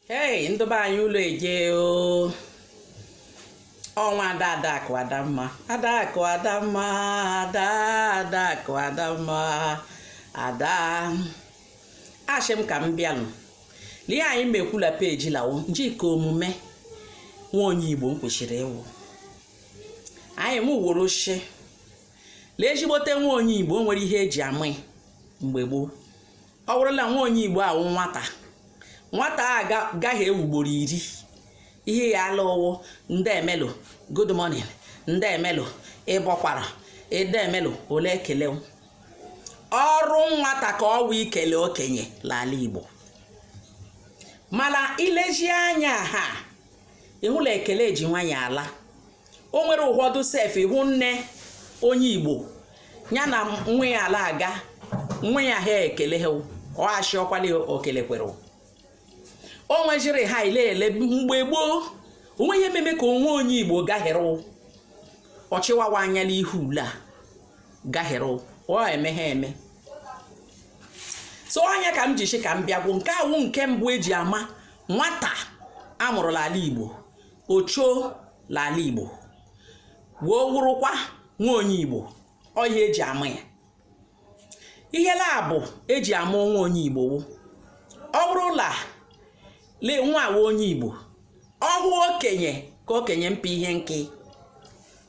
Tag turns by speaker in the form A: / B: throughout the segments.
A: hei ndị be anyị ụlọ eje o ọ nwa ada adakụ adamma adakụ adamma ada adakụ adamma ada ashị m ka m bịanụ lee ihe anyị mekwula peji lawo njike omume nwa onye igbo m kwesịrị ịwụ anyị m woro shi lee ezigbote nwa onye igbo o nwere ihe eji ama mgbe gboo ọ wụrụ la nwa onye igbo awụ nwata nwata agaghị ewu ugboro iri ihe ya ala ụwụ ndị emelụ good morning ndị emelụ ịbọkwara ndị emelụ ole ekele ọrụ nwata ka ọ wụ ikele okenye la ala igbo mana ilezi anya ha ịhụ la ekele ji nwayọọ ala o nwere ụfọdụ sef ịhụ nne onye igbo ya na nwa ya ala aga nwa ya ahụ ekele ha ọ ashị ọkwali okele kwere o nwejiri ha ile mgbe gboo onwe ihe meme ka nwa onye igbo gahere ọchịwawa anya n'ihu ule a gahere ọ eme ha eme so ọ nya ka m ji shi ka m bịagwo nke a wụ nke mbụ eji ama nwata amụrụ la ala igbo ocho la ala igbo wee wụrụkwa nwa onye igbo ọ ihe eji ama ya ihe la abụọ eji ama nwa onye igbo wụ ọ wụrụ la lee nwa awa onye igbo ọ hụ okenye ka okenye mpa ihe nke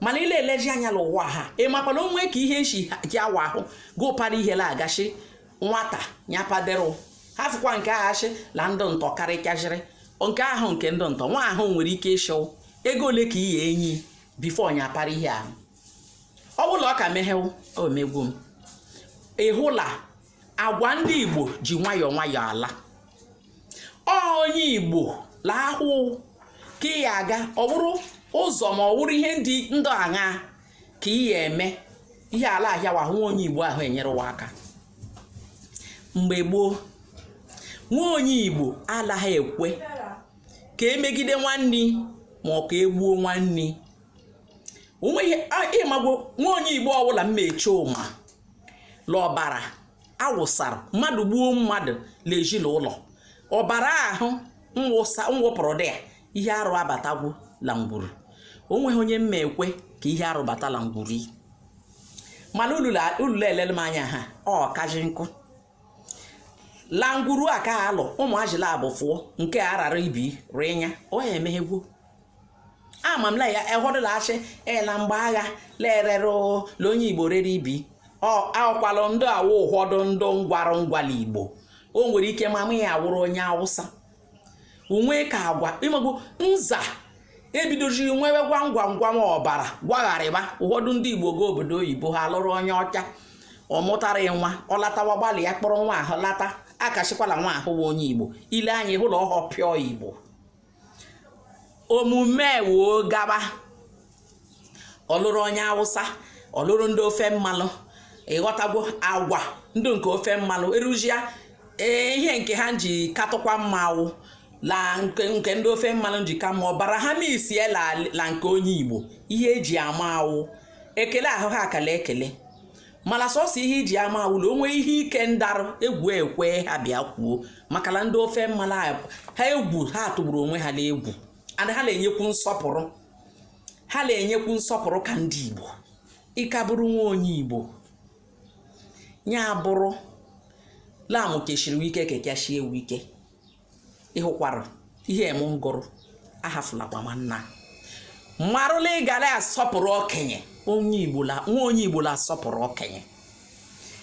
A: mana ile eleji anya la ụwa ha ị makwana onwe ka ihe nshi ji awa ahụ gị ụpara ihe la agachi nwata nya paderụ ha fụkwa nke aghachi la ndụ ntọ karịkajịrị nke ahụ nke ndụ ntọ nwa ahụ nwere ike ịshị ego ole ka i ya enye bifo nya apara ihe ahụ ọ bụla ọ ka meghew omegwu m ịhụ la agwa ndị igbo ji nwayọọ nwayọọ ala ọ onye igbo la ahụ ka ị ya aga ọ buru ụzọ ma ọ wụrụ ihe ndị ndụ aṅa ka ị ya eme ihe ala ahịawa ahụ nwa onye igbo ahụ enyerewa aka mgbe gboo nwa onye igbo alaghị ekwe ka emegide nwanne ma ọ ka egbuo nwanne onweghị ịmagbo nwa onye igbo ọbụla mma eche ụma la ọbara awụsara mmadụ gbuo mmadụ la ezi la ụlọ ọbara ahụ mwụpụrụ dị ya ihe arụ abatagwo la ngwuru o nweghị onye mma ekwe ka ihe arụ bata la ngwuru yi mana ulula elele m anya ha ọ kaji nkụ la ngwuru a ka alụ ụmụ ajila abụ fụọ nke a rara ibi rịnya ọ ya emeghegwo ama m la ya ụhọdụ la-asị ee na mgbe agha lerere la onye igbo rere ibi akwalụ ndị awụ ụfọdụ ndị ngwarụ ngwa la igbo o nwere ike mama ya awụrụ onye awụsa o nwe ka agwa ịmagbu nza ebidoziri nwewe ngwa ngwa ngwa ọbara gwagharịba ụfọdụ ndị igbo ga obodo oyibo ha lụrụ onye ọcha ọ mụtara nwa ọ latawa gbalịa kpọrọ nwa ahụ lata a ka sịkwa la nwa ahụ onye igbo i le anya hụ la ọhọ pure igbo omume woo gaba ọ lụrụ onye awụsa ọ lụrụ ndị ofe mmanụ ị ghọtagwo agwa ndị nke ofe mmanụ erujia ee ihe nke ha ji katụkwa mma wụ la nke ndị ofe mmanụ ji ka mma ọbara ha mixie la nke onye igbo ihe e ji ama awụ ekele ahụ ha ka la-ekele mana sọsọ ihe i ji ama awụ la o nwe ihe ike ndarụ egwu ekwe ha bịa kwuo maka na ndị ofe mmanụ ha egwu ha tụgburu onwe ha n'egwu and ha na-enyekwu nsọpụrụ ka ndị Igbo ị ka bụrụ nwa onye Igbo ya bụrụ la mụ kechiri wike kekechie wike ị hụkwara ihe m ngụrụ ahafulakwa nwanna marụ la ị ga la-asọpụrụ okenye nwa onye igbo la-asọpụrụ okenye